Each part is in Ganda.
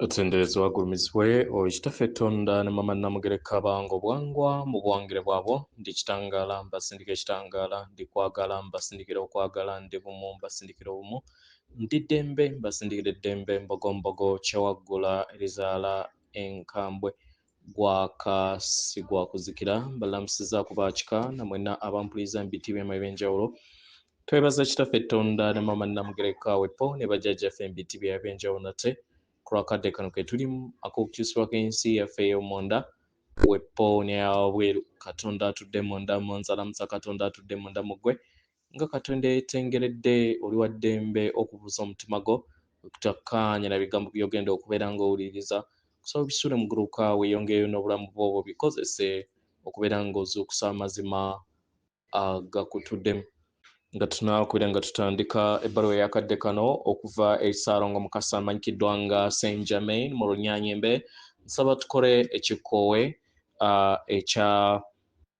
otenderezebwa agulumizibwe oyo kitaffe tonda ne mama namugereka bange obwangwa mu buwangire bwabwo ndi kitangaala mbasindika ekitangaala ndi kwagala mbasindikira okwagala ndi bumu mbasindikira obumu ndi ddembe mbasindikira eddembe mbogombogo kyewaggula erizaala enkambwe gwaka si gwa kuzikira balamusiza ku bakika namwena abampuliza mu biti byama ebyenjawulo twebaza kitaffe tonda ne mama namugereka wepo ne bajajjaffe mu biti bya ebyenjawulo nate ku lwakadde kano ke tulimu ak'okukyusibwako ensi yaffe ey'omunda wepo ne yawabweru katonda atudde munda munzalamusa katonda atudde munda mugwe Nga Katonda eyetengeredde, oli wa ddembe okubuuza omutima gwo okutakkaanya na bigambo by'ogenda okubeera ng'owuliriza. Kusaba bisuule mu guluka weeyongeyo n'obulamu bwo obwo bikozese okubeera ng'ozuukusa amazima agakutude. Nga tunakubeera nga tutandika ebbaluwa eyakadde kano okuva eri Ssaalongo Mukasa amanyikiddwa nga Saint Germain mu Lunyanyembe, nsaba tukole ekikkoowe ekya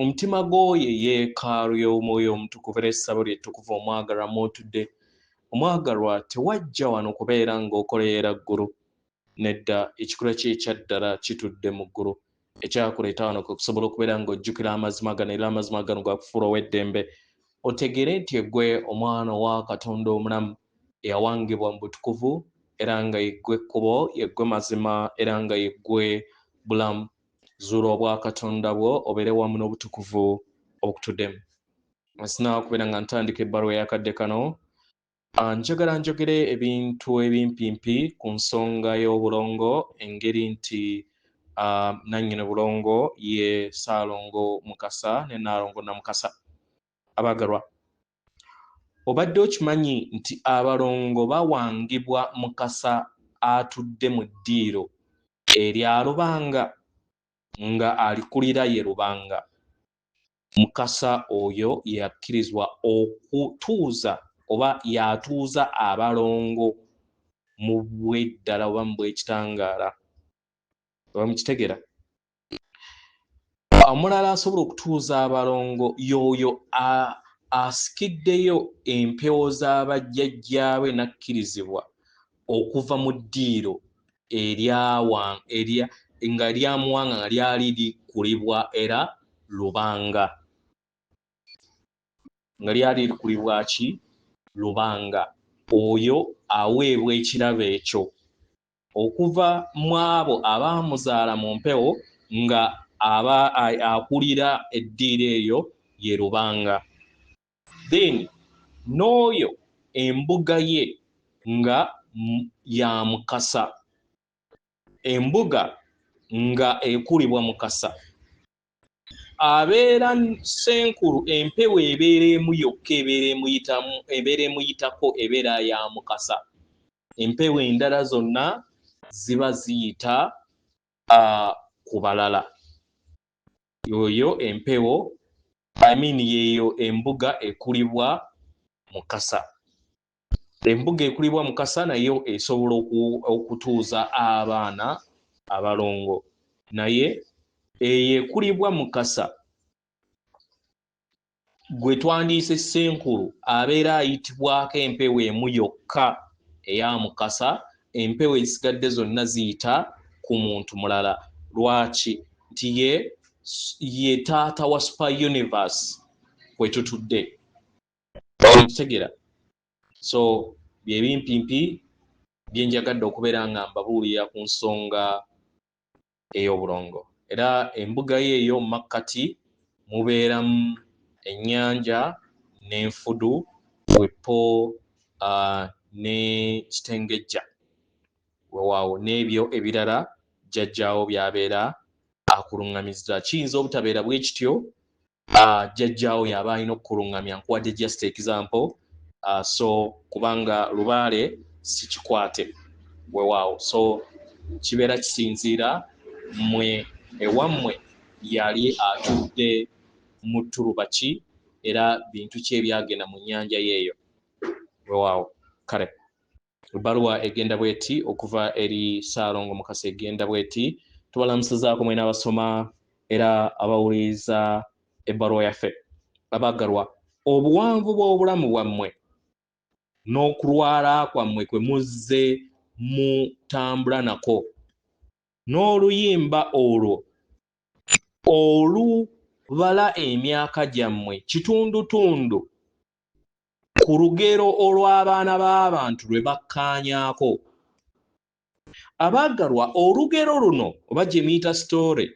Omutima gw'oyo eyeekaalu y'omwoyo omutukuvu era essabo ly'ettukuvu omwagalwa mw'otudde. Omwagalwa, tewajja wano kubeera ng'okoleera ggulu. Nedda, ekikulwa kyo ekya ddala kitudde mu ggulu. Ekyakuleeta wano kwe kusobola okubeera ng'ojjukira amazima gano era amazima gano ga kufuula ow'eddembe otegeere nti eggwe omwana owa Katonda omulamu eyawangibwa mu butukuvu era nga yeggwe kkubo, yeggwe mazima era nga yeggwe bulamu. zuula obwakatonda bwo obeere wamu n'obutukuvu okutudemu sina kubeera nga ntandika ebbaluwa yakadde kano ah, njagala njogere ebintu ebimpimpi ku nsonga y'obulongo engeri nti ah, nannyini bulongo ye saalongo mukasa ne naalongo namukasa abaagalwa Obadde okimanyi nti abalongo bawangibwa Mukasa atudde mu ddiiro erya Lubanga nga alikulira ye Lubanga. Mukasa oyo yakkirizwa okutuuza oba y'atuuza abalongo mu bweddala oba mu bwekitangaala. Oba mukitegera? omulala asobola okutuuza abalongo yooyo asikiddeyo empewo z'abajjajjaabe n'akkirizibwa okuva mu ddiiro eryawangaerya nga lyamuwanga nga lyali likulibwa era lubanga nga lyali likulibwa ki lubanga oyo aweebwa ekirabo ekyo okuva mu abo abaamuzaala mu mpewo nga aba akulira eddiiro eyo ye lubanga then n'oyo embuga ye nga ya mukasa embuga nga ekulibwa mukasa abeera senkulu empewo ebeera emu yokka ebeera emuyitamu ebeera emuyitako ebeera ya mukasa empewo endala zonna ziba ziyita ku balala yoyo empewo I mean yeeyo embuga ekulibwa mukasa Embuga ekulibwa Mukasa nayo esobola okutuuza abaana abalongo naye eyo ekulibwa Mukasa gwe twandiise Ssenkulu abeera ayitibwako empewo emu yokka eya Mukasa empewo ezisigadde zonna ziyita ku muntu mulala lwaki nti ye ye taata wa super universe kwetutudde okutegera so byebimpimpi byenjagadde okubeera nga mbabuulira ku nsonga ey'obulongo era embuga ye eyo mu makkati mubeeramu ennyanja n'enfudu wepo uh, ne kitengejja wewaawo n'ebyo ebirala jjajjaawo byabeera akuluŋŋamizza kiyinza obutabeera bwe kityo uh, jajjaawo yaba alina okukulungamya nkuwadde just example uh, so kubanga lubaale sikikwate wewaawo so kibeera kisinziira mwe ewammwe yali atudde mu ttuluba ki era bintu ki ebyagenda mu nnyanja yeeyo wewaawo kale Ebbaluwa egenda bweti okuva eri Ssaalongo Mukasa egenda bweti tubalamusizaako mwena abasoma era abawuliriza ebbaluwa yaffe abaagalwa obuwanvu bw'obulamu bwammwe n'okulwala kwammwe kwe muzze mutambula nako n'oluyimba olwo olubala emyaka gyammwe kitundutundu Ku lugero olw'abaana b'abantu lwe bakkaanyaako. Abaagalwa, olugero luno oba gye muyita sitoore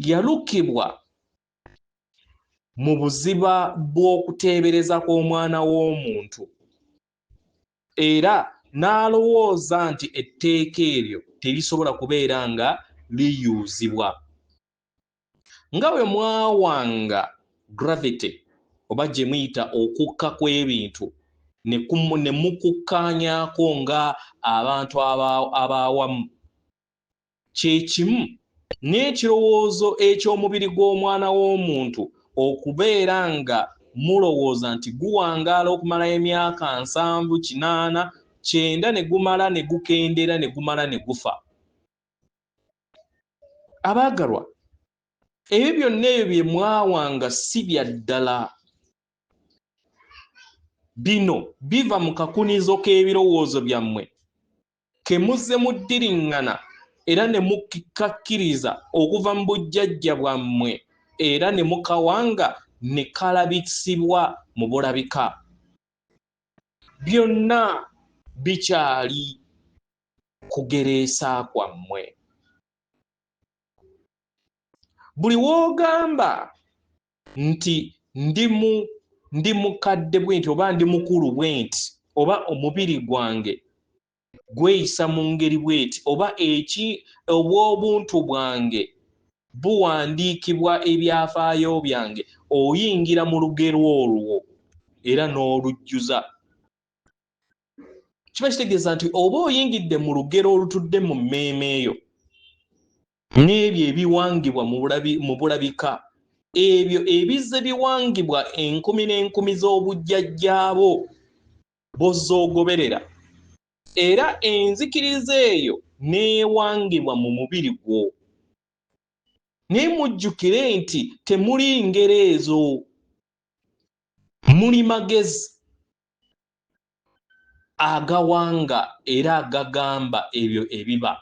yalukibwa mu buziba bw'okuteebereza kw'omwana w'omuntu era n'alowooza nti etteeka eryo terisobola kubeera nga liyuuzibwa. Nga bwe mwawanga gravity oba gye muyita okukka kw'ebintu ne mukukkaanyaako nga abantu abaawamu, kye kimu n'ekirowoozo eky'omubiri gw'omwana w'omuntu okubeera nga mulowooza nti guwangaala okumala emyaka nsanvu, kinaana, kyenda ne gumala ne gukendeera ne gumala ne gufa. abaagalwa ebyo byonna ebyo bye mwawanga si bya ddala bino biva mu kakunizo k'ebirowoozo byammwe ke muzze muddiriŋŋana era ne mukikakkiriza okuva mu bujjajja bwammwe era ne mukawanga ne kalabisibwa mu bulabika byonna bikyali kugereesa kwammwe buli wogamba nti ndi mu ndi mukadde bwenti oba ndi mukulu bwenti oba omubiri gwange gweyisa mu ngeri bweti oba eki obw'obuntu bwange buwandiikibwa ebyafaayo byange oyingira mu lugero olwo era n'olujjuza kiba kitegeeza nti oba oyingidde mu lugero olutudde mu mmeeme eyo n'ebyo ebiwangibwa mu bulabika ebyo ebizze biwangibwa enkumi n'enkumi z'obujjajjaabo bozoogoberera era enzikiriza eyo n'ewangibwa mu mubiri gwo naye mujjukire nti temuli ngero ezo muli magezi agawanga era agagamba ebyo ebiba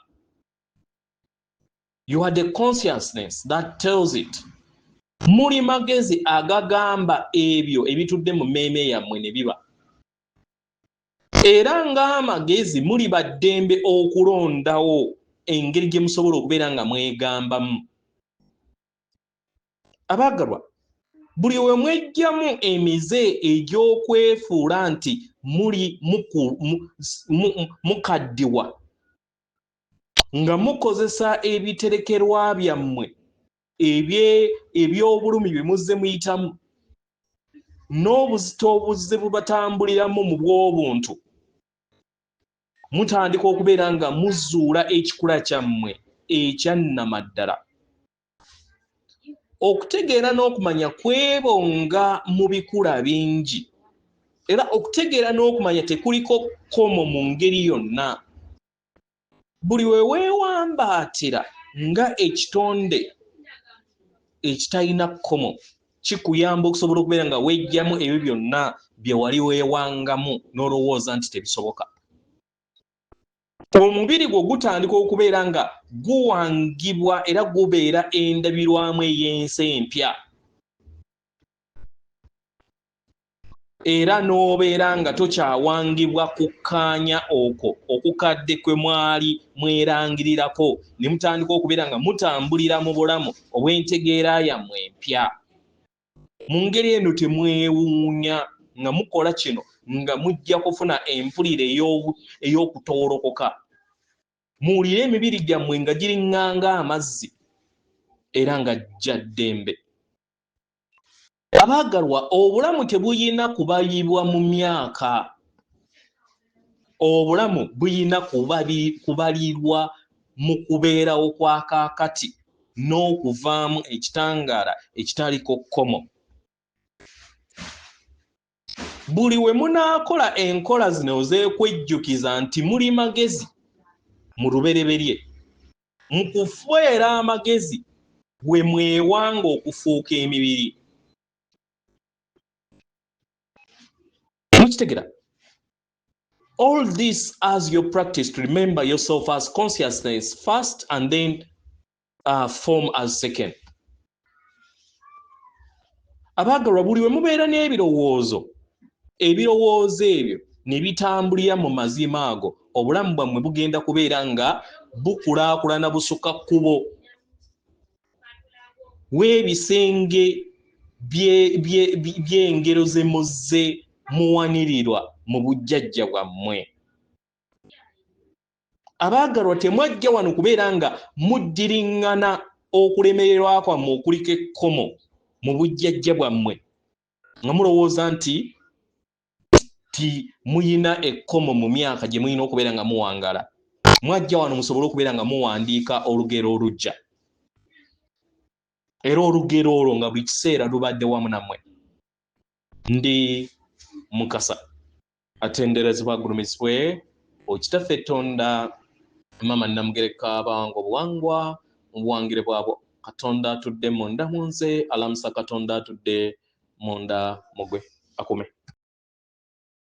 you had a consciousness that tells it muli magezi agagamba ebyo ebitudde mu mmeeme yammwe ne biba era ng'amagezi muli baddembe okulondawo engeri gye musobola okubeera nga mwegambamu abaagalwa buli we mwejjamu emize egy'okwefuula nti muli mukaddiwa nga mukozesa ebiterekerwa byammwe eby'obulumi bye muzze muyitamu n'obuzito obuzze bubatambuliramu mu bw'obuntu mutandika okubeera nga muzuula ekikula kyammwe ekyannamaddala okutegeera n'okumanya kwebo nga mu bikula bingi era okutegeera n'okumanya tekuliko kkomo mu ngeri yonna buli we weewambaatira nga ekitonde ekitalina kkomo kikuyamba okusobola okubeera nga wejjamu ebyo byonna bye wali weewangamu n'olowooza nti tebisoboka omubiri gwo gutandika okubeera nga guwangibwa era gubeera endabirwamu ey'ensi empya era n'obeera nga tokyawangibwa kukkaanya okwo okukadde kwe mwali mwerangirirako ne mutandika okubeera nga mutambulira mu bulamu obw'entegeera yammwe empya mu ngeri eno temwewuunya nga mukola kino nga mujja kufuna empulira ey'okutoolokoka muwulire emibiri gyammwe nga giringanga amazzi era nga jja ddembe abaagalwa obulamu tebuyina kubayibwa mu myaka obulamu buyina kubalirwa mu kubeerawo kwa kaakati n'okuvaamu ekitangaala ekitaliko kkomo buli we munaakola enkola zino zeekwejjukiza nti muli magezi mu lubereberye mu kufweera amagezi bwe mwewanga okufuuka emibiri mukitegera all this as your practice to remember yourself as consciousness first and then uh, form as second abaagalwa buli we mubeera n'ebirowoozo ebirowoozo ebyo ne bitambulira mu mazima ago obulamu bwammwe bugenda kubeera nga bukulaakulana busukka kkubo w'ebisenge by'engero ze muzze muwanirirwa mu bujjajja bwammwe abaagalwa temwajja wano kubeera nga muddiriŋŋana okulemererwa kwammwe okuliko ekkomo mu bujjajja bwammwe nga mulowooza nti nti muyina ekkomo mu myaka gye muyina okubeera nga muwangala mwajja wano musobole okubeera nga muwandiika olugero olujja era olugero olwo nga buli kiseera lubadde wamu namwe ndi mukasa atenderezebwa agulumizibwe okitaffe etonda mama namugereka bawanga obuwangwa mu buwangire bwabwo katonda atudde munda munze alamusa katonda atudde munda mugwe akume